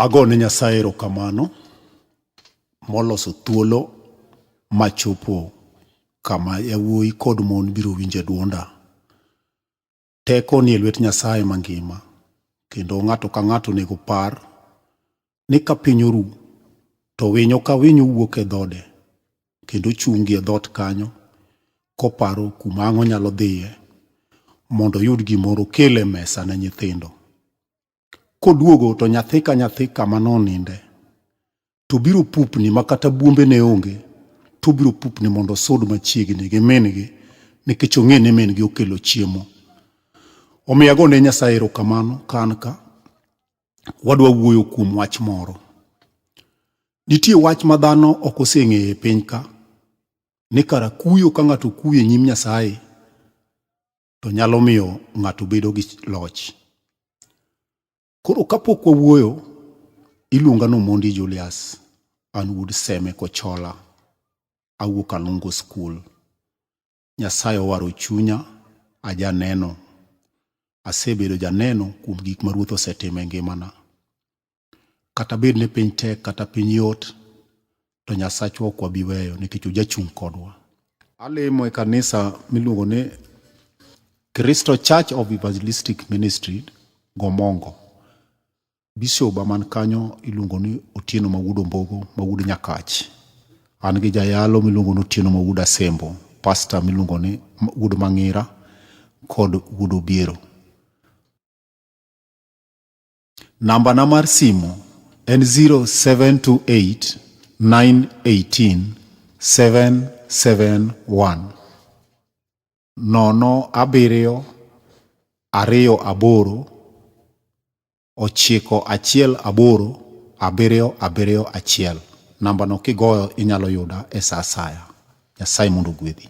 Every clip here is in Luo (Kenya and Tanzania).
Ago ne Nyasaye erokamano moloso thuolo machopo kama yawuoyi kod mon biro winje dwonda. Teko nie lwet Nyasaye mangima kendo ng'ato ka ng'ato onego par ni ka piny oru to winyo ka winyo wuok e dhode kendo chungi e dhot kanyo koparo kuma ang' onyalo dhiye mondo oyud gimoro okel e mesa ne nyithindo. Koduogo to nyathi ka nyathi kama noninde, to biro pupni ma kata buombe ne onge, to biro pupni mondo osud machiegni gi min-gi nikech ong'e ni min-gi okelo chiemo. Omiyo ago ne Nyasaye erokamano ka an ka. Wadwa wuoyo kuom wach moro. Nitie wach ma dhano ok oseng'eyo e piny ka, ni kara kuyo ka ng'ato kuyo e nyim Nyasaye, to nyalo miyo ng'ato bedo gi loch. Koro kapok wawuoyo, iluonga ni Omondi Julius, an wuod Seme Kochola, awuok Anungo School. Nyasaye owaro chunya, ajaneno. Asebedo janeno kuom gik ma Ruoth osetimo e ngimana. Kata bed ni piny tek kata piny yot, to Nyasachwa ok wabi weyo nikech ojachung' kodwa. Alemo e kanisa miluongo ni Cristo Church of Evangelistic Ministry Gomongo. Bisoba man kanyo iluongo ni Otieno Mawuod Ombogo Mawuod Nyakach. An gi jayalo miluongo ni Otieno Mawuod Asembo, pasta miluongo ni Wuod Mang'ira kod Wuod Obiero. Namba na mar simu en 0728 918 771 nono abiriyo ariyo aboro ochiko achiel aboro abiriyo abiriyo achiel. Nambano kigoyo inyalo yuda e sa asaya. Nyasaye mondo ogwedhi.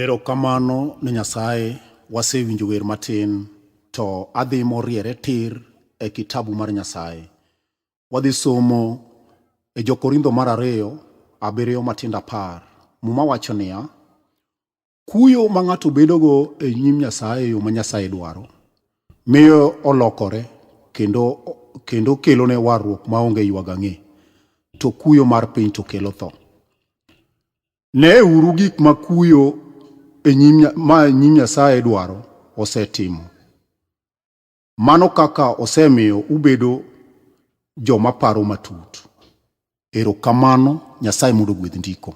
Erokamano ne Nyasaye, wasewinjo wer matin to adhi moriere tir e kitabu mar Nyasaye. Wadhi somo e Jokorintho mar ariyo abiriyo matindo apar. Muma wacho niya, kuyo ma ng'ato bedogo e nyim Nyasaye e yo ma Nyasaye dwaro miyo olokore kendo, kendo kelone warruok maonge ywagang'e, to kuyo mar piny to kelo tho. Neuru gik ma kuyo e nyim Nya- ma e nyim Nyasaye dwaro osetimo. Mano kaka osemiyo ubedo joma paro matut. Erokamano, Nyasaye mondo ogwedh ndiko.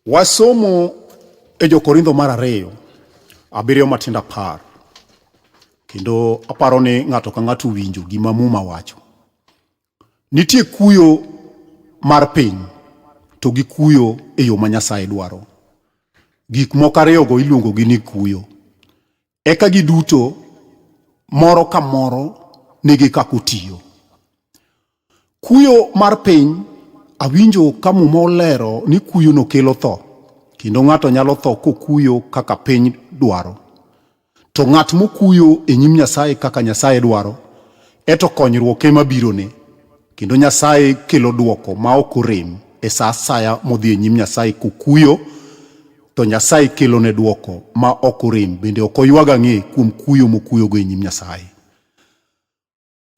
Wasomo e Jokorintho mar ariyo abiriyo matindo apar kendo aparo ni ng'ato ka ng'ato owinjo gima Muma wacho. Nitie kuyo mar piny to gi kuyo e yo ma Nyasaye dwaro. Gik moko ariyogo iluongogi ni kuyo. Eka giduto moro ka moro nigi kaka otiyo. Kuyo mar piny awinjo ka muma olero ni kuyono kelo tho kendo ng'ato nyalo tho kokuyo kaka piny dwaro. To ng'at mokuyo e nyim Nyasaye kaka Nyasaye dwaro, eto konyruok ema birone, kendo Nyasaye kelo dwoko ma ok orem e sa asaya modhi e nyim Nyasaye kokuyo, to Nyasaye kelone dwoko ma ok orem bende ok oywag ang'e kuom kuyo mokuyogo e nyim Nyasaye.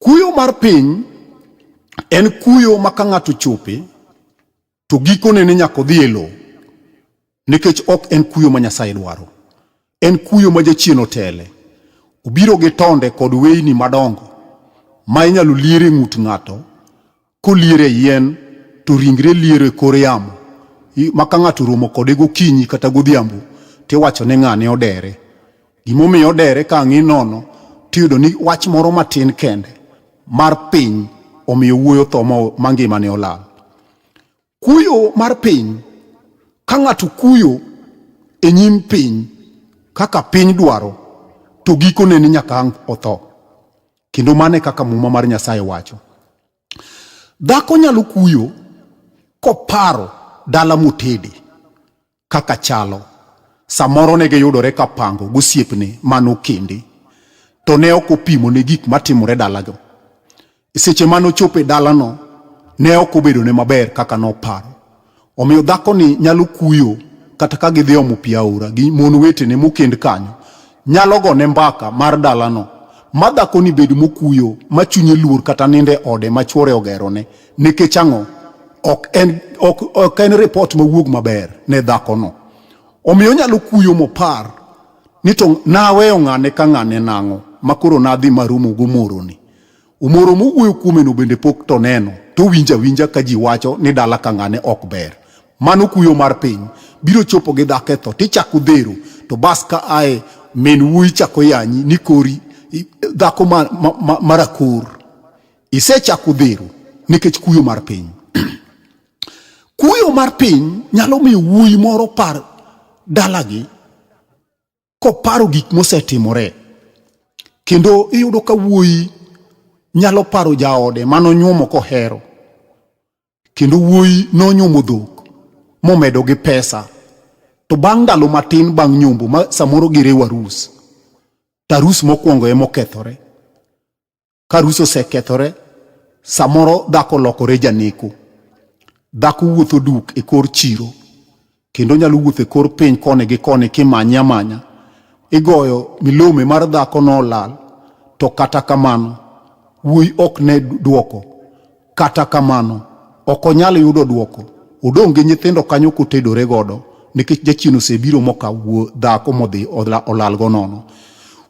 Kuyo mar piny en kuyo ma ka ng'ato chope to gikone ne nyaka odhi e lowo nikech ok en kuyo ma Nyasaye dwaro. En kuyo ma jachien otele. Obiro gi tonde kod weyni madongo ma inyalo lier e ng'ut ng'ato Kolier e yien to ringre liero e kor yamo ma ka ng'ato romo kode gokinyi kata godhiambo tiwacho ne ng'ane odere. Gimomiyo odere ka ang'i nono tiyudo ni wach moro matin kende mar piny omiyo wuoyo tho ma ngimane olal. Kuyo mar piny, ka ng'ato kuyo e nyim piny kaka piny dwaro, to gikone ni nyaka ang' otho. Kendo mano e kaka Muma mar Nyasaye wacho. Dhako nyalo kuyo koparo dala motede, kaka chalo. Samoro ne giyudore ka pango gosiepne mane okendi, to ne ok opimo ne gik matimore dalago. E seche mane ochopo e dalano, ne ok obedone maber kaka noparo. Omiyo dhakoni nyalo kuyo kata ka gidhi omo pi aora gi mon wetene mokend kanyo, nyalo gone mbaka mar dalano ma dhakoni bed mokuyo ma chunye luor kata ninde ode ma chwore ogerone. Nikech ang'o? Ok en, ok, ok en ripot mawuog maber ne dhakono. Omiyo onyalo kuyo mopar ni to naweyo ng'ane ka ng'ane nang'o ma koro nadhi marumo gomoroni. Umoro mowuoyo kuomeno bende pok to neno, to winja winja ka ji wacho ni dala ka ng'ane ok ber. Mano kuyo mar piny, biro chopo gi dhako e tho, tichako dhero, to bas ka ae min wuoyi chako yanyi ni kori dhako ma, ma, ma, marakor. Isechako dhero nikech kuyo mar piny. Kuyo mar piny nyalo miyo wuoyi moro par dalagi koparo gik mosetimore kendo iyudo ka wuoyi nyalo paro jaode manonyuomo kohero kendo wuoyi nonyuomo dhok momedo gi pesa to bang' ndalo matin bang' nyombo ma samoro giriwo arus to arus mokwongo emokethore ka arus osekethore samoro dhako olokore janeku dhako wuotho duk e kor chiro kendo nyalo wuotho e kor piny koni gi koni kimanye amanya igoyo milome mar dhako no olal to kata kamano wuoyi ok ne dwoko Kata kamano, ok onyal yudo dwoko. Odong' gi nyithindo kanyo kotedore godo nikech jachien osebiro mokawo dhako modhi olalgo nono.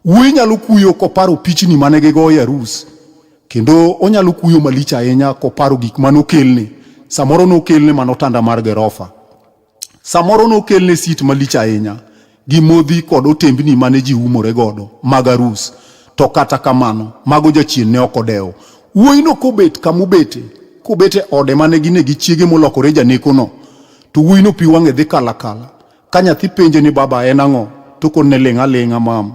Wuoyi nyalo kuyo koparo pichni mane gigoyo e arus kendo onyalo kuyo malich ahinya koparo gik mane okelne. Samoro nokelne mana otanda mar gerofa. Samoro nokelne sit malich ahinya gi modhi kod otembni mane ji umore godo mag arus, to kata kamano mago jachien ne ok odewo. Wuoyino kobet kamobete, kobet e ode mane gin e gi chiege molokore janekono, to wuoyino pi wang'e dhi kalakala. Ka nyathi penje ni baba en ang'o, to okonne ling' aling'a mam.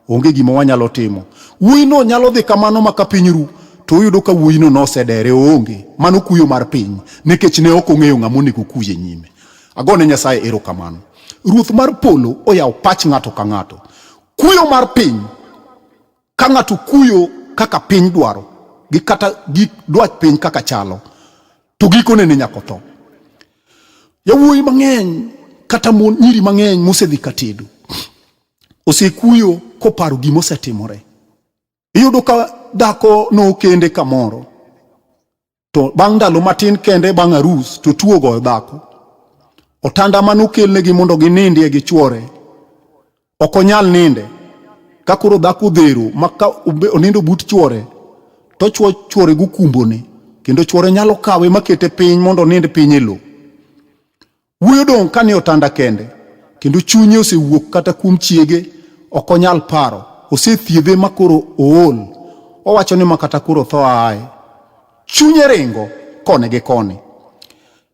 Onge gima wanyalo timo. Wuoyino nyalo dhi kamano ma ka piny ru, to uyudo ka wuoyino nosedere oonge. Mano kuyo mar piny, nikech ne ok ong'eyo ng'ama onego okuye nyime. Agone Nyasaye erokamano. Ruoth mar polo oyawo pach ng'ato ka ng'ato. Kuyo mar piny, ka ng'ato kuyo kaka piny dwaro, gi kata gi dwach piny kaka chalo, to gikone ne nyaka otho. Yawuoyi mang'eny kata mon nyiri mang'eny mosedhi ka tedo. osekuyo koparo gima osetimore. Iyudo ka dhako nokende kamoro to bang' ndalo matin kende bang' arus to tuo goyo dhako. Otanda mane okelnegi mondo ginindie gi chwore ok onyal ninde ka koro dhako odhero ma ka onindo but chwore to chwo chwore gokumbone kendo chwore nyalo kawe makete piny mondo onind piny e lowo. Wuoyo dong' kane otanda kende, kendo chunye osewuok kata kuom chiege, ok onyal paro. Osethiedhe ma koro ool, owacho ni ma kata koro tho aye. Chunye ringo koni gi koni.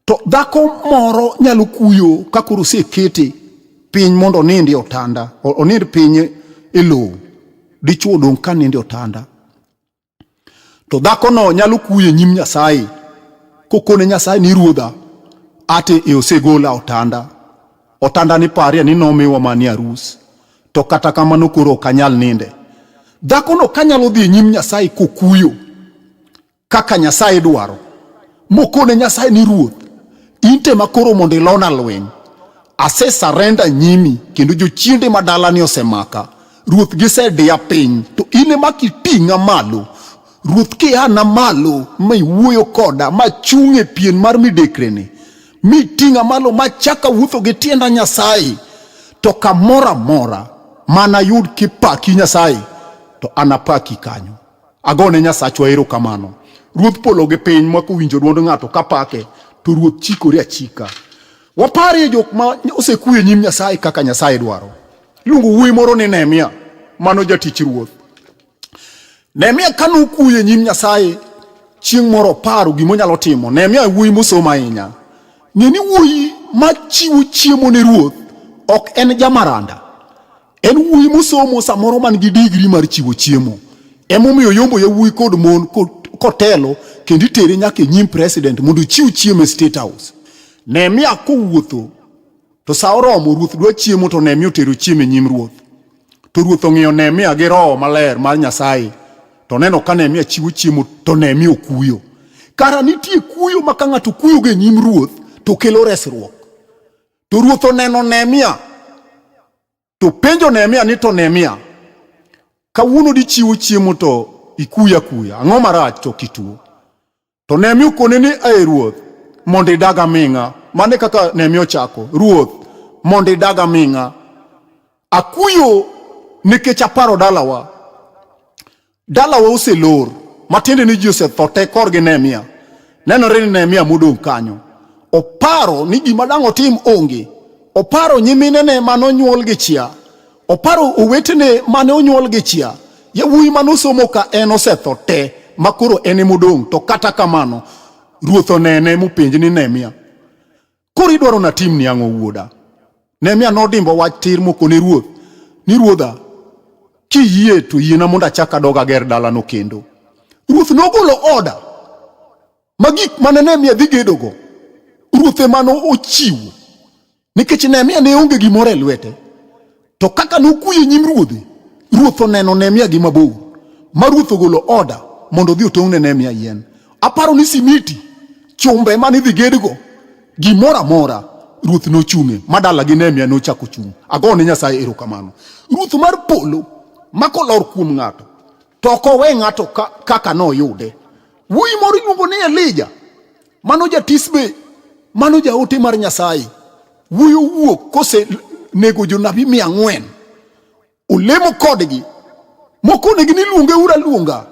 To dhako moro nyalo kuyo ka koro osekete piny mondo onind e otanda, onind piny e lowo. Dichwo dong' ka nindo e otanda. to dhakono nyalo kuye nyim Nyasaye kokone Nyasaye ni ruodha ate e osegola otanda otanda ni parie ni nomiwa mani arus to kata kamano koro ok anyal ninde dhakono kanyalo dhi e nyim Nyasaye kokuyo kaka Nyasaye dwaro mokone Nyasaye ni ruoth inte makoro mondo ilona lweny ase sarenda nyimi kendo jochiende madalani osemaka Ruoth gisediya piny, to in ema kiting'a malo. Ruoth kiana malo ma iwuoyo koda ma chung' e pien mar midekreni, mi iting'a malo ma chaka wuotho gi tienda Nyasaye, to kamoro amora mana yud kipaki Nyasaye, to anapaki kanyo. Agone Nyasachwa erokamano. Ruodh polo gi piny ma kowinjo dwond ng'ato kapake, to Ruoth chikore achika. Waparie jok ma osekuyo e nyim Nyasaye kaka Nyasaye dwaro. Iluongo wuoyi moro ni Nehemia, mano jatich ruoth. Nehemia ka nokuyo e nyim Nyasaye chieng' moro oparo gima onyalo timo. Nehemia e wuoyi mosomo ahinya. Ng'e ni wuoyi ma chiwo chiemo ne ruoth ok en jamaranda. En wuoyi mosomo samoro man gi digri mar chiwo chiemo. Emomiyo yombo yawuoyi kod mon kotelo kendo itere nyaka e nyim president mondo ochiw chiemo e State House. Nehemia kowuotho to sa oromo ruoth dwa chiemo to Nehemia otero chiemo e nyim ruoth. To ruoth ong'iyo Nehemia gi roho maler mar Nyasaye to neno ka Nehemia chiwo chiemo to Nehemia okuyo. Kara nitie kuyo ma ka ng'ato kuyogo e nyim ruoth to kelo resruok. To ruoth oneno Nehemia to penjo Nehemia ni to Nehemia, kawuono dichiwo chiemo to ikuya kuya, ang'o marach to kituo? To Nehemia okone ni ae ruoth mondo idag aming'a. Mane kaka Nehemia ochako, ruoth mondo idag aming'a, akuyo nikech aparo dalawa. Dalawa oselor, matiende ni ji osetho te korgi Nehemia. Nenore ni Nehemia modong' kanyo oparo ni gima dang' otim onge. Oparo nyiminene mane onyuol gi chia, oparo owetene mane onyuol gi chia, yawuoyi mane osomo ka en osetho te ma koro en emodong'. To kata kamano ruoth onene mopenje ni Nehemia, Koro idwaro natim ni ang'o wuoda? Nehemia nodimbo wach tir mokone ruoth ni ruodha, kiyie to yiena mondo achak adog ager dalano kendo. Ruoth nogolo oda ma gik mane Nehemia dhi gedogo ruoth emane ochiwo nikech Nehemia ne onge gimoro e lwete. To kaka nokuyo nyim ruodhe, ruoth oneno Nehemia gi mabor, ma ruoth ogolo oda mondo odhi otong'ne Nehemia yien. Aparo ni simiti, chumbe mane idhi gedgo, gimoro amora ruoth nochung'e ma dalagi Nehemia nochako chung'. Agone Nyasaye erokamano. Ruoth mar polo ma kolor kuom ng'ato to ok owe ng'ato kaka noyude. Wuoyi moro iluongo ni Elija, mano jatisbe, mano jaote mar Nyasaye. Wuoyi owuok kose nego jonabi mia ang'wen, olemo kodgi, mokonegi ni luonge ura luonga.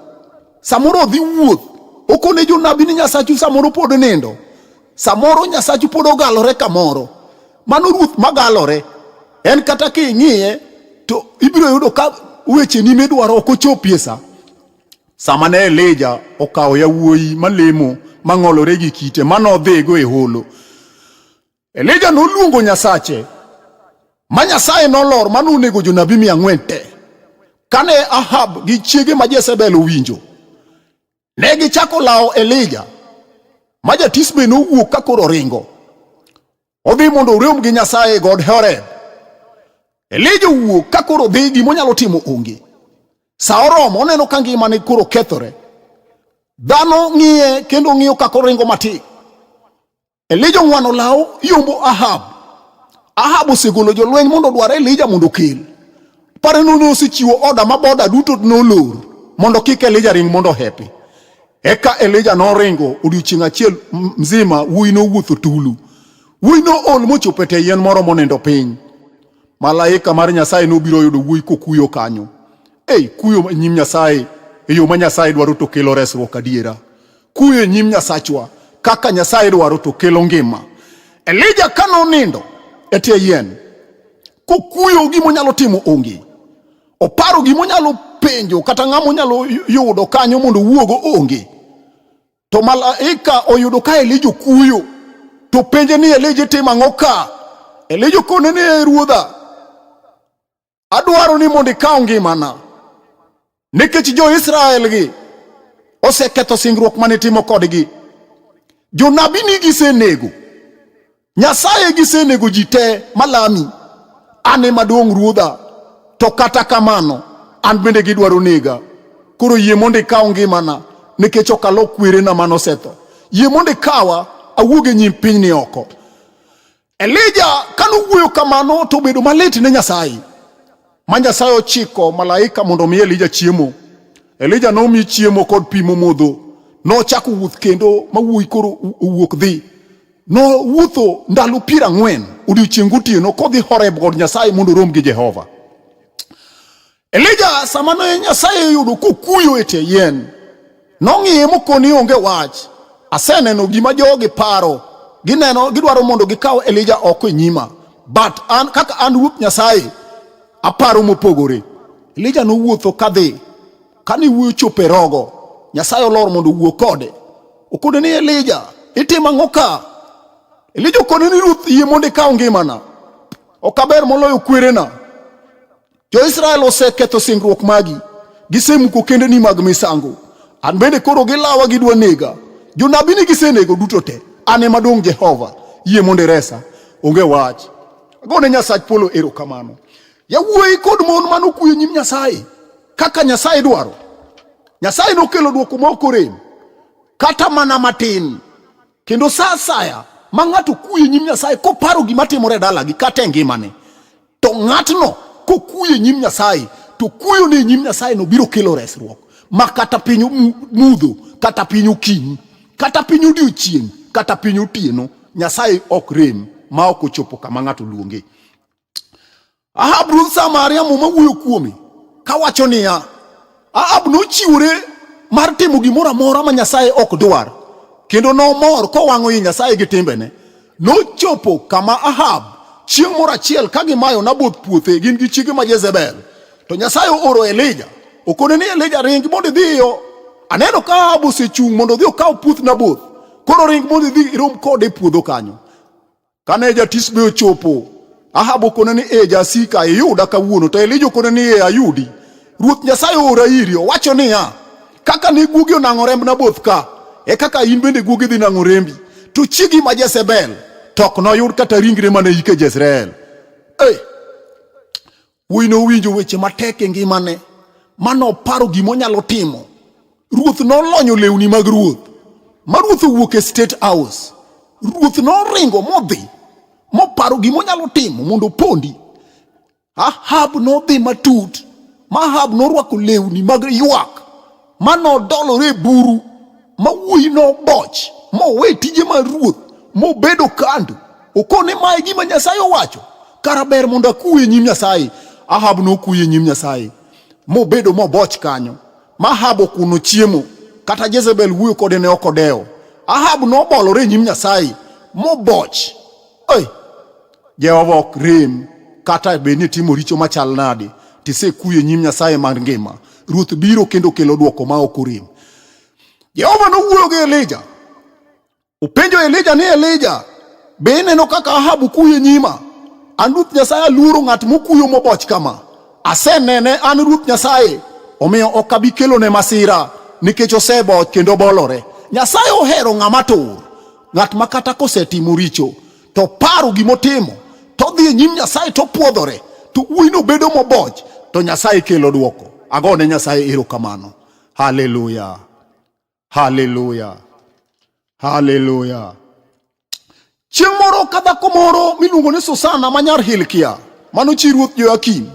Samoro odhi wuoth, okone jonabi ni Nyasachu samoro pod nindo. Samoro Nyasachu pod ogalore kamoro. Mano ruoth magalore. En kata king'iye to ibiro yudo ka weche ni midwaro ok ochopie sa. Sama ne Elija okawo yawuoyi malemo mang'olore gi kite manodhigo e holo. Elija noluongo Nyasache ma Nyasaye nolor mane onego jonabi mia ang'wen te. Kane Ahab gi chiege ma Jezebel owinjo, Ne gichako lawo Elija ma jatisbe nowuok ka koro ringo odhi mondo orom gi Nyasaye e god Horeb. Elija owuok ka koro dhi gima onyalo timo onge. Sa oromo oneno ka ngimane koro kethore. Dhano ng'iye kendo ng'iyo ka koringo matin. Elija ong'wano law yombo Ahab. Ahab osegolo jolweny mondo odwar Elija mondo okel. Pare nono osechiwo oda ma boda duto nolor mondo kik Elija ring mondo hepi. Eka Elija noringo odiochieng' achiel mzima wuoyi nowuotho tulu. Wuoyi nool mochopo e tie yien moro monindo piny. Malaika mar Nyasaye nobiro yudo wuoyi kokuyo kanyo. Ei, kuyo nyim Nyasaye e yo ma Nyasaye dwaro to kelo resruok adiera. Kuyo e nyim Nyasachwa kaka Nyasaye dwaro to kelo ngima. Elija ka nonindo e tie yien kokuyo gima onyalo timo onge, oparo gima onyalo penjo kata ng'ama onyalo yudo kanyo mondo owuogo onge, to malaika oyudo ka Elija okuyo to penje ni Elija itimo ang'o ka? Elija okone ni ruodha Adwaro ni mondo ikaw ngimana nikech jo-Israel gi oseketho singruok mane timo kodgi. Jonabi ni gisenego, Nyasaye gisenego ji te malami. An ema duong' ruodha, to kata kamano an bende gidwaro nega. Koro yie mondo ikaw ngimana nikech ok alo kwerena mane osetho. Yie mondo ikawa awuog e nyim pinyni oko. Elija kane owuoyo kamano to obedo malit ne Nyasaye, ma Nyasaye ochiko malaika mondo omi Elija chiemo. Elija nomi chiemo kod pi momodho, nochako wuoth kendo ma wuoyi koro owuok dhi. Nowuotho ndalo piero ang'wen odiechieng' gotieno kodhi Horeb god Nyasaye mondo orom gi Jehova. Elija sama ne Nyasaye yudo kokuyo e tie yien, nong'iye mokoni onge wach. Aseneno gima jogi paro, gineno gidwaro mondo gikaw Elija oko e nyima. But an kaka an Ruoth Nyasaye aparo mopogore. Elija nowuotho kadhi, kane wuoyo chopo e rogo, Nyasaye olor mondo owuo kode. Okone ni Elija, itimo ang'o ka? Elija okone ni Ruoth, yie mondo ikaw ngimana. Ok aber moloyo kwerena. Jo-Israel oseketho singruok magi, gisemuko kendeni mag misango. An bende koro gilawa gidwa nega. Jonabini gisenego duto te, an ema dong' Jehova. Yie mondo iresa. Onge wach. Agone Nyasach polo erokamano. Yawuoyi kod mon mano kuyo nyim Nyasaye kaka Nyasaye dwaro. Nyasaye nokelo dwoko ma ok orem kata mana matin. Kendo sa asaya ma ng'ato kuye nyim Nyasaye koparo gima timore e dalagi kata e ngimane, to ng'atno kokuye nyim Nyasaye to kuyo ne nyim Nyasaye no biro kelo resruok ma kata piny mudho kata piny okinyi kata piny odiochieng' kata piny otieno Nyasaye ok rem ma ok ochopo kama ng'ato luonge. Ahab ruodh Samaria muma wuoyo kuome kawacho niya, Ahab nochiwore mar timo gimoro amora ma Nyasaye ok dwar, kendo nomor kowang'o i Nyasaye gi timbene. Nochopo kama Ahab chieng' moro achiel ka gimayo Naboth puothe gin gi chiege ma Jezebel. To Nyasaye ooro Elija, okone ni Elija ring mondo idhi iyo. Aneno ka Ahab osechung' mondo odhi okaw puoth Naboth. Koro ring mondo idhi irom kode e puodho kanyo. Kane jatisbe ochopo, Ahab okone ni, e jasika, iyuda kawuono. To Elija okone ni, e ayudi. Ruoth Nyasaye oora iri, owacho niya, kaka ne guogi onang'o remb Naboth ka, e kaka in bende guogi dhi nang'o rembi. To chiegi ma Jezebel to ok noyud kata ringre mane ike Jezreel. Hey! Wuoyi nowinjo weche matek e ngimane ma noparo gima onyalo timo. Ruoth nolonyo lewni mag ruoth ma ruoth owuok e State House. Ruoth noringo modhi moparo gima onyalo timo mondo opondi. Ahab nodhi matut ma Ahab norwako lewni mag ywak ma nodolore e buru ma wuoyi noboch mowe tije mar ruoth mobedo kando okone mae gima nyasaye owacho kara ber mondo akuwe nyim nyasaye ahab nokuye nyim nyasaye mobedo moboch kanyo ma ahab okuno chiemo kata jezebel wuoyo kode ne ok odewo ahab nobolore e nyim nyasaye moboch hey. Jehova ok rem kata bed ni timo richo machal nadi, tisekuyo e nyim Nyasaye mar ngima. Ruoth biro kendo kelo dwoko ma ok orem. Jehova nowuoyo gi Elija, openjo Elija ni Elija, be ineno kaka Ahab kuyo e nyima? An Ruoth Nyasaye aluoro ng'at mokuyo moboch kama. Asenene an Ruoth Nyasaye, omiyo ok abi kelone masira nikech oseboch kendo bolore. Nyasaye ohero ng'ama tur, ng'at ma kata kosetimo richo to oparo gima otimo to odhi e nyim Nyasaye to opwodhore to wuoyino bedo moboch to Nyasaye kelo dwoko. Ago ne Nyasaye erokamano. Haleluya, haleluya, haleluya. Chieng' moro ka dhako moro miluongo ni Susana ma nyar Hilkia mano chi ruoth Joyakim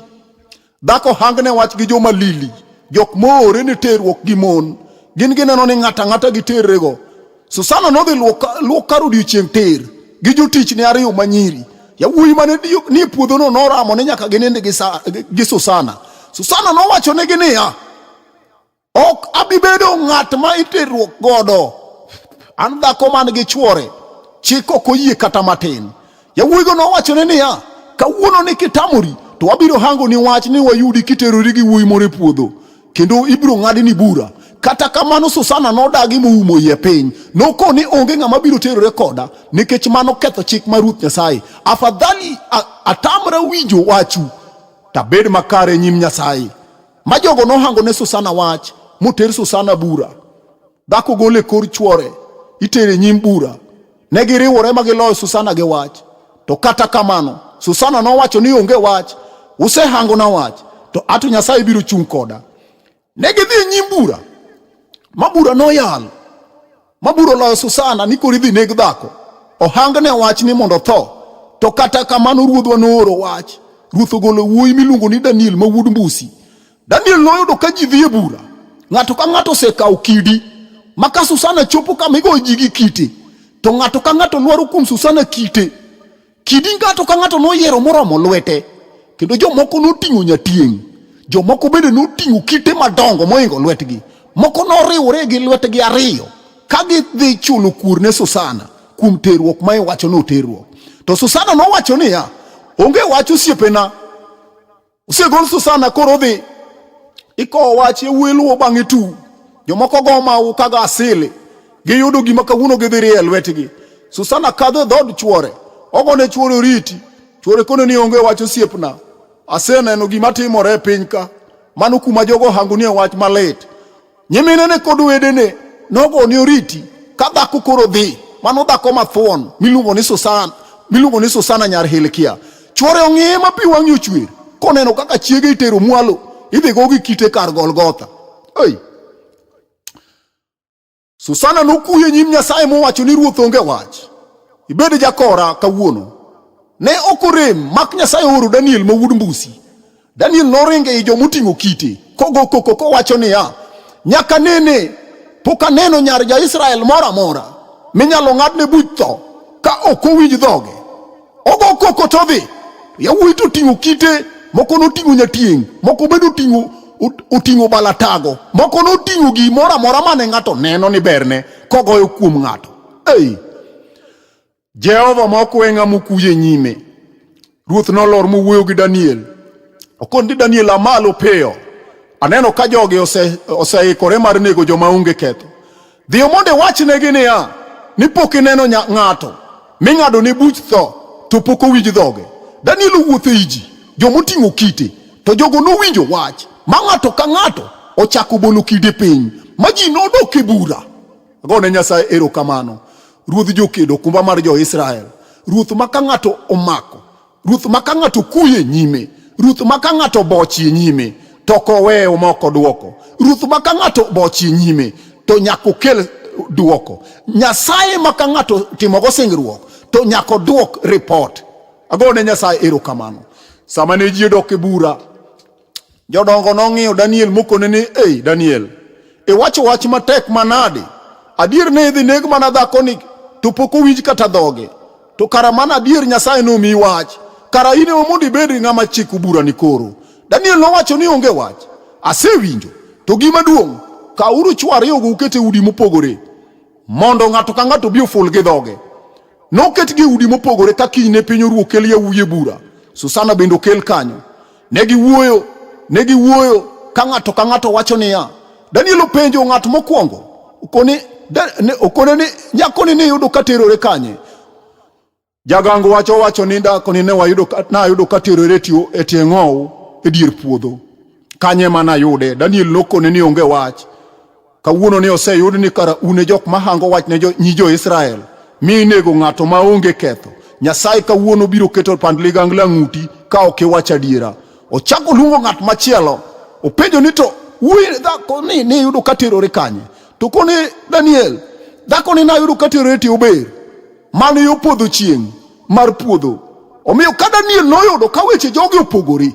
Dhako hangne wach gi joma lili, jok moore ni terruok gi mon. Gin gineno ni ng'ata ng'ata gi terrego. Susana nodhi luok kar odiechieng' ter gi jotichne ariyo manyiri. Yawuoyi mane nie puodhono noramo ni nyaka ginind gi Susana. Susana nowachonegi niya, Ok abi bedo ng'at ma iterruok godo. An dhako man gi chwore, chik ok oyie kata matin. Yawuoyigo nowachone niya, kawuono ni kitamori, to wabiro hango ni wach ni wayudi kiterori gi wuoyi moro e puodho, kendo ibiro ng'adi ni bura. Kata kamano Susana nodagi moumo iye piny. Noko ni onge ng'ama biro terore koda nikech mano ketho chik mar Ruoth Nyasaye. Afadhali atamra winjo wachu, tabed makare e nyim Nyasaye. ma jogo nohango ne Susana wach moter Susana bura. Dhako gole kor chwore itere nyim bura. Ne giriwore ma giloyo Susana gi wach. To kata kamano Susana nowacho ni onge wach, usehango na wach, to ato Nyasaye biro chung' koda. Ne gidhi e nyim bura ma bura noyal Maburo loyo Susana ni koro idhi neg dhako. Ohang ne wach ni mondo tho. To kata kamano ruodhwa nooro wach. Ruoth ogolo wuoyi miluongo ni Daniel ma wuod Mbusi. Daniel noyudo ka ji dhi e bura. Ng'ato ka ng'ato osekawo kidi. Ma ka Susana chopo kama igoyo ji gi kite. To ng'ato ka ng'ato lwaro kuom Susana kite. Kidi ng'ato ka ng'ato noyiero moromo lwete, kendo jomoko noting'o nyatieng', jomoko bende noting'o kite madongo moingo lwetgi, moko noriwore gi lwetgi ariyo ka gidhi chulo kuor ne Susana kuom terruok ma iwacho ni oterruok. To Susana nowacho niya, Onge wach osiepena, Osegol Susana koro odhi ikowo wach yawuoyi luwo bang'e tu jomoko go mawu kaga asili giyudo gima kawuono gidhi rie lwetgi Susana kadho e dhood chuore ogone chuore oriti chuore kone ni onge wach osiepna aseneno gima timore e piny ka mano kuma jogo hango nie wach malit Nyiminene kod wedene nogoni oriti ka dhako koro dhi, mano dhako mathuon miluongo ni Susana, miluongo ni Susana nyar Hilkia. Chwore ong'iye ma pi wang'e ochwer koneno kaka chiege itero mwalo idhi go gi kite kar Golgotha. Hey. Susana nokuye nyim Nyasaye mowacho ni ruoth onge wach. Ibed jakora kawuono. Ne ok orem mak Nyasaye oro Daniel ma wuod mbusi Daniel noringo ei joma oting'o kite kogo koko kowacho niya, nyaka nene pok aneno nyar ja-Israel moro amora minyalo ng'adne buch tho ka ok owinj dhoge. Ogo koko to dhi, yawuoyi to oting'o kite, moko noting'o nyatieng', moko bende oting'o oting'o balatago, moko noting'o gimoro amora mane ng'ato neno ni berne kogoyo kuom ng'ato. Ei, Jehova ma ok we ng'ama okuyo e nyime. Ruoth nolor mowuoyo gi Daniel. Okon ni Daniel amalo piyo. Aneno ka jogi ose- oseikore mar nego joma onge ketho. Dhiyo mondo iwachnegi niya, ni pok ineno nya- ng'ato ming'ado ne buch tho to pok owinj dhoge. Daniel owuotho e ji, joma oting'o kite, to jogo nowinjo wach ma ng'ato ka ng'ato ochako bolo kide piny, ma ji nodok e bura. Agone Nyasaye erokamano. Ruodh jokedo, okumba mar jo-Israel, ruoth ma ka ng'ato omako, ruoth ma ka ng'ato kuyo e nyime, ruoth ma ka ng'ato bochie nyime, to ok oweyo ma ok odwoko. Ruoth ma ka ng'ato bochie nyime, to nyaka okel dwoko. Nyasaye ma ka ng'ato timogo singruok, to nyaka odwok ripot. Agone Nyasaye erokamano. Sama ne ji odok e bura, Jodongo nong'iyo Daniel mokone ni, Ei, Daniel, iwacho wach matek manade? Adier ne idhi neg mana dhakoni, to pok owinj kata dhoge. To kara mana adier Nyasaye nomiyi wach, kara in ema mondo ibed ng'ama chiko burani koro. Daniel nowacho ni, Onge wach, asewinjo. To gima duong', kawuru chwo ariyogo uket e udi mopogore, mondo ng'ato ka ng'ato obi oful gi dhoge. Noket gi udi mopogore ka kiny ne piny oruo kel yawuye bura. Susana bende okel kanyo. Ne giwuoyo, ne giwuoyo ka ng'ato ka ng'ato wacho niya, Daniel openjo ng'at mokwongo, okone ne okone ni nyako ni niyudo ka terore kanye jagango wacho wacho ni dhako ni ne wayudo nayudo ka terore tiyo e tie ng'ow e dier puodho kanye mana yude Daniel nokone ni onge wach Kawuono ni oseyud ni kara un e jok mahango wach ne nyi jo-Israel mi inego ng'ato ma onge ketho. Nyasaye kawuono biro keto pand ligangla ng'uti ka ok iwach adiera. Ochako luongo ng'at machielo, openjo ni to wuoyi dhako ni niyudo ka terore kanye? To kone Daniel, dhako ni nayudo ka terore ti ober. man yo podho chieng' mar puodho omiyo ka daniel noyudo ka weche jogi opogore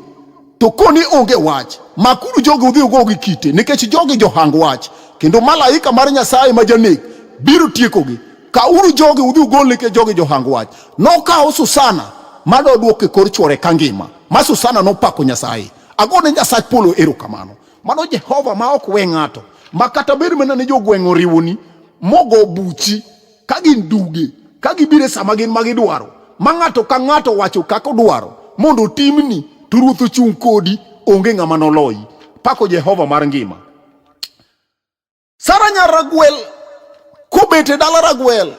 to koni onge wach makuru jogi udhi ugo gi kite nikech jogi johang wach kendo malaika mar nyasaye ma janek biro tiekogi kauru jogi udhi ugol nikech jogi johang wach nokawo susana madodwok e kor chwore ka ngima ma susana nopako nyasaye agone nyasach polo erokamano mano jehova ma ok we ng'ato ma kata bed mana ni jogweng' oriwoni mogo buchi ka gin duge ka gibire sama gin ma gidwaro ma ng'ato ka ng'ato wacho kako dwaro mondo timni to ruoth ochung' kodi onge ng'ama noloyi pako jehova mar ngima sara nyar ragwel kobet e dala ragwel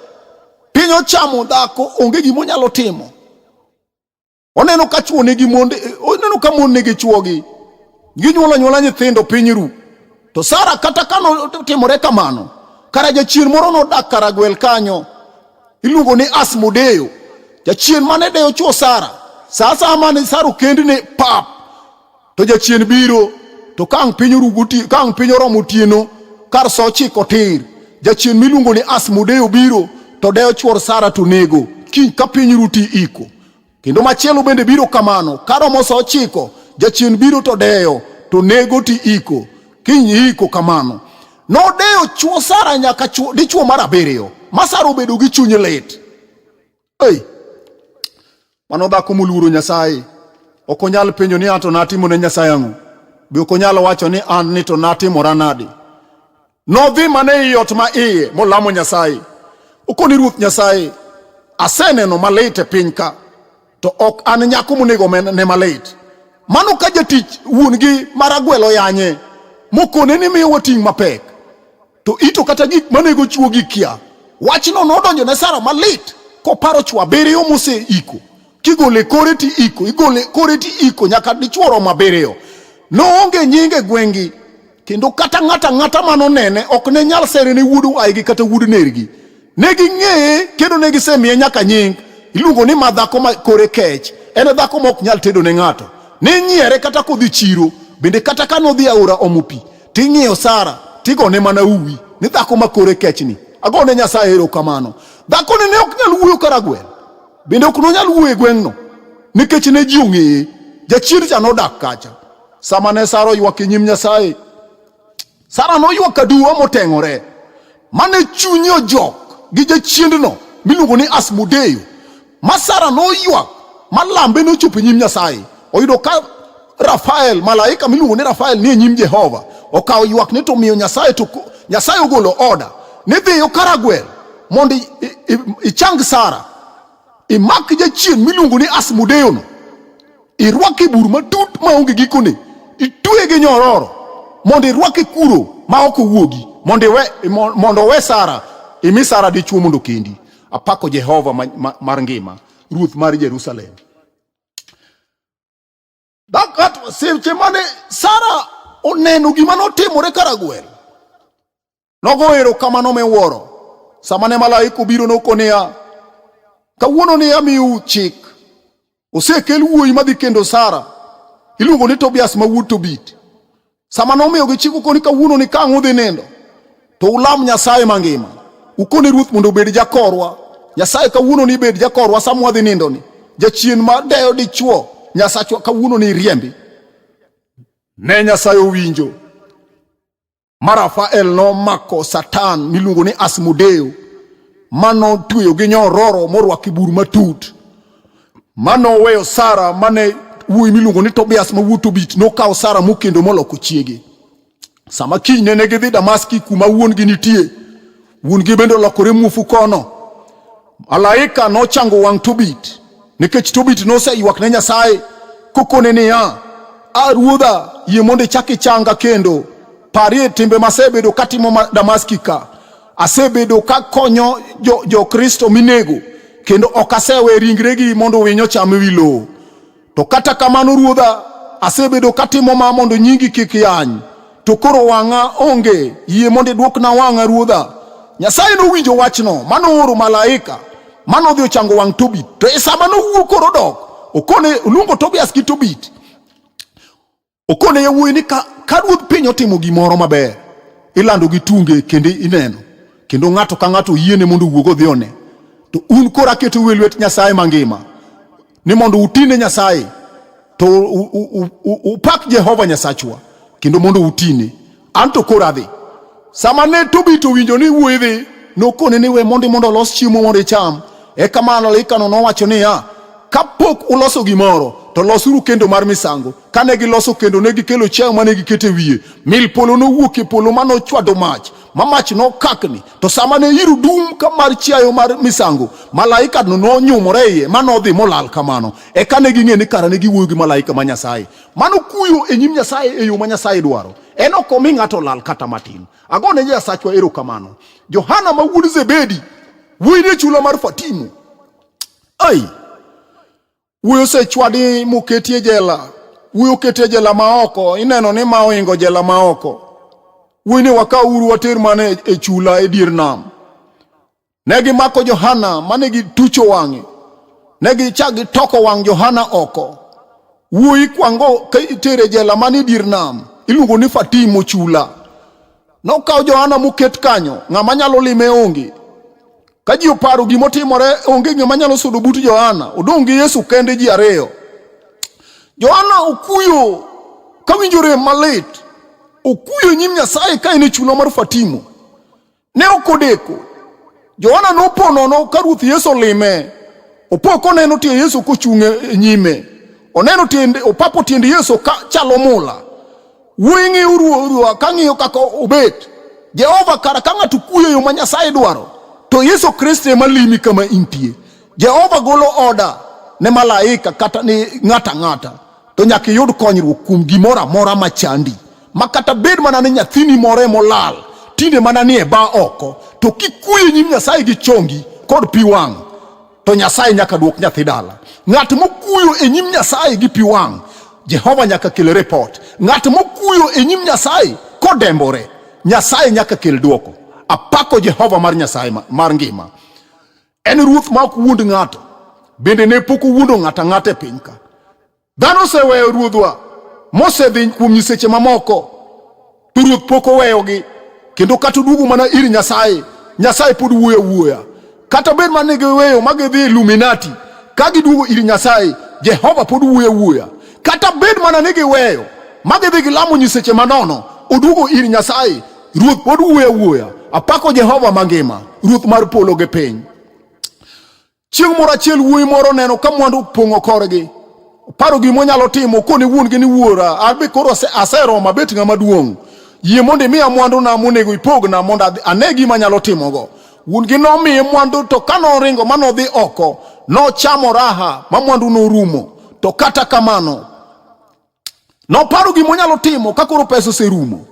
piny ochamo dhako onge gima onyalo timo Oneno ka chwo nigi mond, oneno ka mon nigi chwogi. Ginyuolo anyuola nyithindo piny ru. To Sara kata ka notimore kamano, kara jachien moro nodak Karagwel kanyo. Iluongo ni Asmodeo. Jachien mane deyo chwo Sara. Sa asaya mane Sara okendne pap To jachien biro, to ka ang' piny orugo ka ang' piny oromo otieno, kar sa ochiko tir, jachien miluongo ni Asmodeo biro, to dewo chwor Sara to nego, kiny ka piny ruti iko. Kendo machielo bende biro kamano, ka romo sa ochiko, jachien biro to dewo, to nego ti iko, kiny iko kamano. Nodewo chwo Sara nyaka chwo, dichwo mar abiriyo, ma Sara obedo gi chuny lit. Hey, mano dhako moluoro Nyasaye ok onyal penjo ni an to natimo ne Nyasaye ang'o, be ok onyal wacho ni an ni to natimora nade. Nodhi mana ei ot ma iye molamo Nyasaye, okoni Ruoth Nyasaye, aseneno malit e piny ka, to ok an nyako monego men- ne malit. Mano ka jatich wuon-gi maragwelo yanye, mokone ni miyo wating' mapek. To ito kata gik manego chwo gi kia. Wachno nodonjo ne Sara malit koparo chwo abiriyo moseiko. Kigole kore ti iko, igole kore ti iko nyaka dichwo romo abiriyo. Noonge nyinge gwengi kendo kata ng'ata ng'ata manonene ok ne nyal sere ne wuod waygi kata wuod nergi. Ne ging'eye kendo ne gisemiye nyaka nying. Iluongo ni ma dhako ma kore kech. En e dhako ma ok nyal tedo ne ng'ato. Ne nyiere kata kodhi chiro, bende kata ka nodhi aora omo pi, ting'iyo Sara, tigone mana uwi ni dhako ma kore kechni. Agone Nyasaye erokamano. Dhakoni ne ok nyal wuoyo karagwel, bende ok nonyal wuoyo e gweng'no, nikech ne ji ong'eye. Jachir cha nodak kacha. Sama ne Sara oywak e nyim Nyasaye, Sara noywak aduwa moteng'ore. Mane chunye ojok gi jachiendno miluongo ni Asmodeyo. Ma Sara noywak ma lambe nochopo e nyim Nyasaye. Oyudo ka Rafael, malaika miluongo ni Rafael ni e nyim Jehova. Okawo ywakne to omiyo Nyasaye to Nyasaye ogolo oda ni dhiyo Karagwel mondo ichang Sara. imak jachien miluongo ni asmodeyono irwake bur matut maonge gikone itweye gi nyororo mondo irwake kuro ma ok owuogi mondo iwe mo- mondo owe sara imi sara dichwo mondo kendi apako jehova ma- ma- mar ngima ruoth mar jerusalem Dhakato seche mane Sara oneno gima notimore Karagwel, nogo erokamano miwuoro sama ne malaika obiro noko niya, kawuono ni amiu chik, osekel wuoyi madhi kendo Sara, iluongo ni Tobias ma wuod Tobit. Sama nomiyo gichik ukoni kawuono ni kang' udhi nindo to ulam Nyasaye mangima. Ukoni ruoth mondo obed jakorwa. Nyasaye kawuono ni bed jakorwa sama wadhi nindo ni. Jachien ma deyo dichwo Nyasachwa kawuono ni riembi. Ne Nyasaye owinjo. Ma Rafael nomako Satan miluongo ni Asmodeo ma notweyo gi nyororo morwako bur matut. Mano oweyo Sara mane wuoyi miluongo ni Tobias ma wuo Tobit nokawo Sara mokendo moloko chiege. Sama kiny nene gidhi Damaski kuma wuon-gi nitie, wuon-gi bende olokore muofu kono. Malaika nochango wang' Tobit nikech Tobit noseywak ne Nyasaye kokone niya, A ruodha, yie mondo ichak ichanga kendo. Parie timbe masebedo katimo Damaski ka Asebedo ka konyo jo-Kristo jo minego kendo ok asewe ringregi mondo winyo cham ewi lowo. To kata kamano ruodha, asebedo katimo ma mondo nyingi kik yany. To koro wang'a onge, yie mondo idwokna wang'a ruodha. Nyasaye nowinjo wachno manooro malaika manodhi ochango wang' Tobit. To e sama nowuo koro dok, okone oluongo Tobias gi Tobit Okone yawuoyi ni ka, ka ruodh piny otimo gimoro maber, ilando gi tunge kendo ineno. Kendo ng'ato ka ng'ato yiene mondo owuog odhi one. To un koro aketo uwe lwet Nyasaye mangima ni mondo utine Nyasaye to upak Jehova Nyasachwa kendo mondo utine. Anto koro adhi. Sama ne Tobit owinjo ni wuoyi dhi, nokone ni we mondi mondo olos chiemo mondo icham. Eka malaikano nowacho niya, kapok uloso gimoro to losuru kendo mar misango. Kane giloso kendo ne gikelo chiayo mane gikete wiye. Mil polo nowuok e polo ma nochwado mach, ma mach nokakni. To sama ne iro dum ka mar chiayo mar misango, malaikano nonyumore iye ma nodhi molal kamano. Eka ne ging'e ni kara ne giwuoyo gi malaika ma Nyasaye. Mano kuyo e nyim Nyasaye e yo ma Nyasaye dwaro. En ok omi ng'ato lal kata matin. Ago ne Nyasachwa erokamano. Johana ma wuod Zebedi, wuoyi ne chula mar Fatimo. Ai, wuoyi osechwadi moketi e jela. Wuoyi oketi e jela ma oko. Ineno ni ma ohingo jela ma oko. Wuoyi ne wakaw uru water mana e chula e dier nam. Ne gimako Johana mane gitucho wang'e, ne gichak gitoko wang' Johana oko. Wuoyi kwango ka itere jela man e dier nam, iluongo ni Fatimo chula. Nokaw Johana moket kanyo, ng'ama nyalo lime onge. Ka ji oparo gima otimore, onge ng'ama nyalo sudo but Johana, odong' gi Yesu kende ji ariyo. Johana okuyo kawinjo rem malit, okuyo e nyim Nyasaye ka en e chula mar Fatimo. Ne ok odeko. Johana nopo nono ka Ruoth Yesu olime. Opo koneno tie Yesu kochung' e nyime. Oneno tiende, opapo tiende Yesu ka chalo mula. Wuoyi ng'iyo ruoth ka ng'iyo kaka obet. Jehova kara ka ng'ato kuyo yo ma Nyasaye dwaro, to Yesu Kristo ema limi kama intie. Jehova golo oda ne malaika kata ni ng'ata ng'ata, to nyaka iyud konyruok kuom gimoro amora ma chandi. ma kata bed mana ni nyathini more molal tinde mana ni e ba oko, to kikuyo nyim Nyasaye gi chongi kod pi wang' to Nyasaye nyaka duok nyathi dala. Ng'at mokuyo e nyim Nyasaye gi pi wang' Jehova nyaka kel report. Ng'at mokuyo e nyim Nyasaye kodembore, Nyasaye nyaka kel duoko. Apako Jehova mar Nyasaye mar ngima. En ruoth ma ok wuond ng'ato, bende ne pok owuondo ng'ata ng'ata e piny ka. Dhano oseweyo Ruodhwa mosedhi kuom nyiseche mamoko, to Ruoth pok oweyogi, kendo kata oduogo mana ir Nyasaye, Nyasaye pod wuoyo awuoya. Kata bed ma giweyo ma gidhi Illuminati, ka giduogo ir Nyasaye, Jehova pod wuoyo awuoya. Kata bed mana ni giweyo ma gidhi gilamo nyiseche manono, oduogo ir Nyasaye, Ruoth pod wuoyo awuoya. Apako Jehova mangima, Ruoth mar polo gi piny. Chieng' moro achiel wuoyi moro oneno ka mwandu opong'o korgi. Oparo gima onyalo timo kone wuon-gi ni wuora, abe koro aseromo abet ng'ama duong'. Yie mondo imiya mwanduna monego ipogna mondo ane gima anyalo timogo. Wuon-gi nomiye mwandu to ka noringo ma nodhi oko, nochamo raha ma mwandu norumo. To kata kamano, noparo gima onyalo timo ka koro pesa oserumo.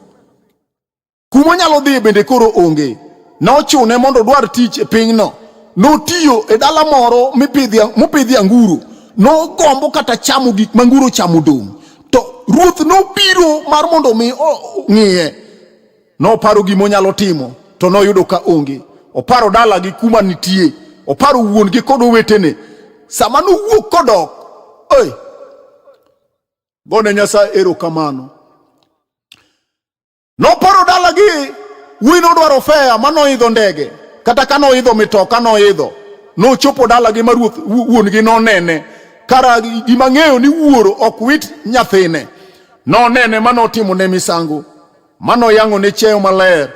Kuma onyalo dhiye bende koro onge. Nochune mondo odwar tich e pinyno. Notiyo e dala moro mopidhi anguro. Nogombo kata chamo gik ma anguro chamo dong'. To ruoth nobiro mar mondo omi ong'iye. Noparo gima onyalo timo to noyudo ka onge. Oparo dalagi kuma nitie. Oparo wuon-gi kod owetene. Sama nowuok kodok, oi, gone Nyasaye erokamano. Noporo dalagi, wuoyi nodwaro fea ma noidho ndege, kata ka noidho mitoka noidho. Nochopo dalagi ma ruoth wuon-gi nonene, kara gima ng'eyo ni wuoro ok wit nyathine. Nonene ma notimo ne misango, ma noyang'o ne cheyo maler,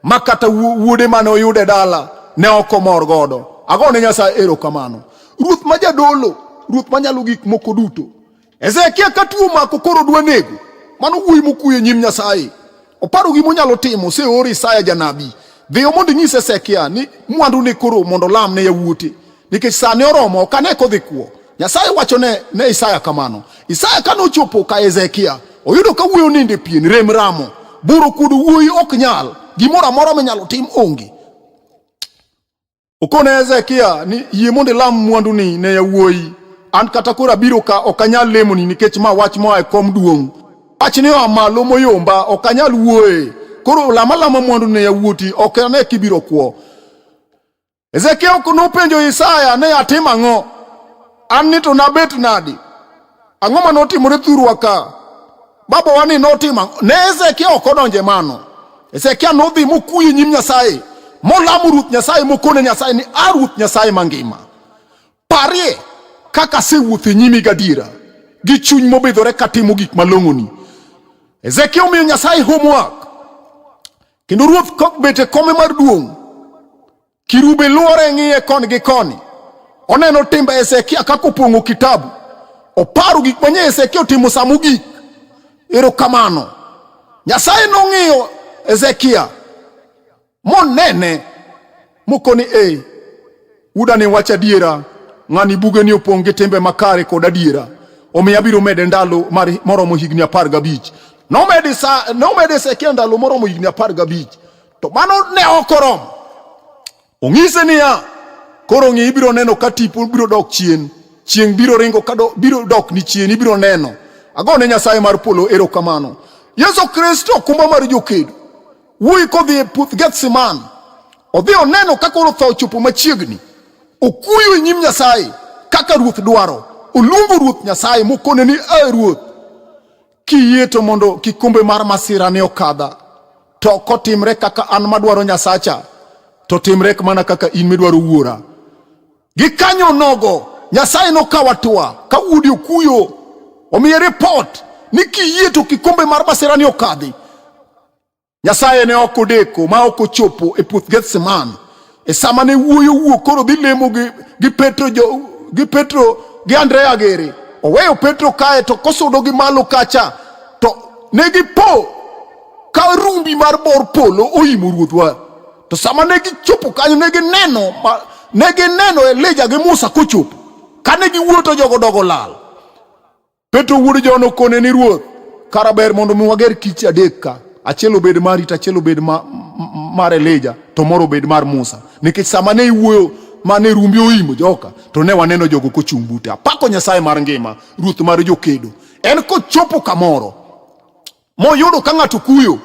ma kata wuode mane oyude dala ne ok omor godo. Agone Nyasaye erokamano. Ruoth ma jadolo, ruoth manyalo gik moko duto, Hezekia ka tuo mako koro dwa nego, mano wuoyi mokuyo e nyim Nyasaye. Oparo gima onyalo timo, oseor Isaya janabi. Dhiyo mondo inyis Hezekia ni mwandu ne koro mondo lam ne yawuote, nikech sa ne oromo, ok ane kodhi kwo. Nyasaye wacho ne, ne Isaya kamano. Isaya kane ochopo ka Hezekia, oyudo ka wuoyi onindo e pien, rem ramo. Buro kuodo wuoyi ok nyal, gimoro amora minyalo tim onge. Okone Hezekia ni yie mondo ilam mwanduni ne yawuoyi. An kata koro abiro ka ok anyal lemoni nikech ma wach moa e kom duong'. Wachni oa malo moyomba ok anyal wuoye. Koro lama lama mwandu ne yawuoti ok ane kibiro kwo. Hezekia ok nopenjo Isaya ne atim ang'o? An ni to nabet nadi? Ang'o ma notimore thurwa ka? Baba wa ni notima ne Hezekia ok odonje mano. Hezekia nodhi mokuyo nyim Nyasaye molamo Ruoth Nyasaye mokone Nyasaye ni a Ruoth Nyasaye mangima. Parie kaka asewuotho e nyimi gadiera gi chuny mobidhore katimo gik malong'oni. Hezekia omiyo Nyasaye homework kendo ruoth kok bet e kome mar duong' Kirubi luore ng'iye koni gi koni, oneno timbe Hezekia kaka opong'o kitabu, oparo gik manye Hezekia otimo sa mogik. Erokamano. Nyasaye nong'iyo Hezekia monene mokoni, e udani wach adiera, ng'ani bugeni opong' gi timbe makare kod adiera, omiyo abiro mede ndalo moromo higni apar gabich. Nomede Hezekia ndalo moromo higni apar gabich. To mano ne ok oromo. Ong'ise niya, koro ng'i ibiro neno ka tipo biro dok chien, chieng' biro ringo ka do, biro dok ni chien, ibiro neno. Agone Nyasaye mar polo erokamano. Yesu Kristo okumba mar jokedo. Wuoyi kodhi e puoth Gethsemane, odhi oneno ka koro tho ochopo machiegni. Okuyo e nyim Nyasaye kaka ruoth dwaro. Oluongo ruoth Nyasaye mokone ni, "A ruoth, Kiyie to mondo kikombe mar masira ne okadha, to ok otimre kaka an madwaro Nyasacha, to timre mana kaka in midwaro wuora. Gikanyo nogo Nyasaye nokaw atua ka udi okuyo, omiye ripot ni kiyie to kikombe mar masira ne okadhi. Nyasaye ne ok odeko ma ok ochopo e puoth Gethsemane e sama ne wuoyo wuok koro dhi lemo gi, gi Petro jo, gi Petro gi Andrea gere oweyo Petro kae to kosudo gi malo kacha to ne gipo ka rumbi mar bor polo oimo ruodhwa to sama ne gichopo kanyo ne gineno ne gineno Elija gi Musa kochopo kane giwuoto jogo dogo lal Petro wuod John okone ni ruoth, kara ber mondo mi wager kich adek ka. Achiel obed mari to achiel obed ma, mar Elija to moro obed mar Musa. Nikech sama ne iwuoyo mane rumbi oimo joka to ne waneno jogo kochung' bute. Apako Nyasaye mar ngima, ruoth mar jokedo. En kochopo kamoro moyudo ka ng'ato kuyo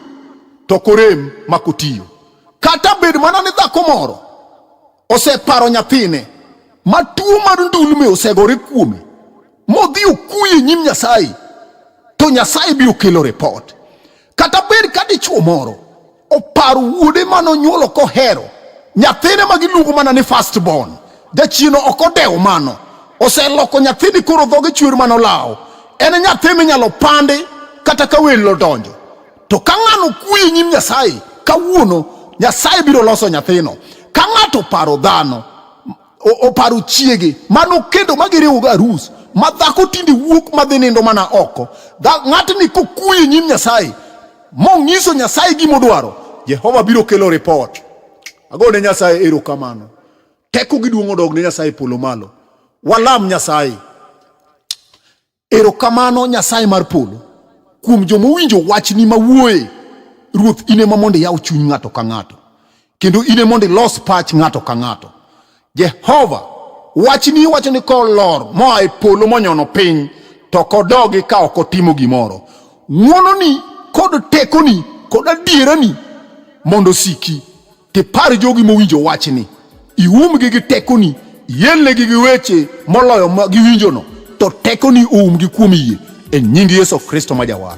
to korem ma kotiyo. Kata bed mana ni dhako moro oseparo nyathine ma tuo mar ndulme osegore kuome modhi okuye nyim Nyasaye to Nyasaye biro kelo ripot. Kata bed ka dichwo moro opar wuode ma nonyuolo kohero nyathine ma giluongo mana ni first born jachino ok odewo mano oseloko nyathini koro dhoge chwer mano lawo en nyathi minyalo pandi kata ka welo odonjo to ka ng'ano kuyo e nyim nyasaye kawuono nyasaye biro loso nyathino ka ng'ato paro dhano oparo chiege mano kendo ma giriwogo arus ma dhako tinde wuok madhi nindo mana oko ng'atni kokuye nyim nyasaye mong'iso nyasaye gimodwaro jehova biro kelo ripot ago ne nyasaye erokamano teko giduong' odog ne nyasaye polo malo walam nyasaye Erokamano Nyasaye mar polo kuom joma owinjo wachni mawuoye. Ruoth ine ma mondo iyaw chuny ng'ato ka ng'ato kendo ine mondo ilos pach ng'ato ka ng'ato. Jehova wachni wacho ni kolor moa e polo monyono piny to kodogi ka ok otimo gimoro. Ng'wononi kod tekoni kod adierani mondo osiki. Ti par jogi mowinjo wachni, iumgi gi tekoni, ielnegi gi weche moloyo ma giwinjono, to tekoni oumgi kuom yie e nying Yesu Kristo ma Jawar.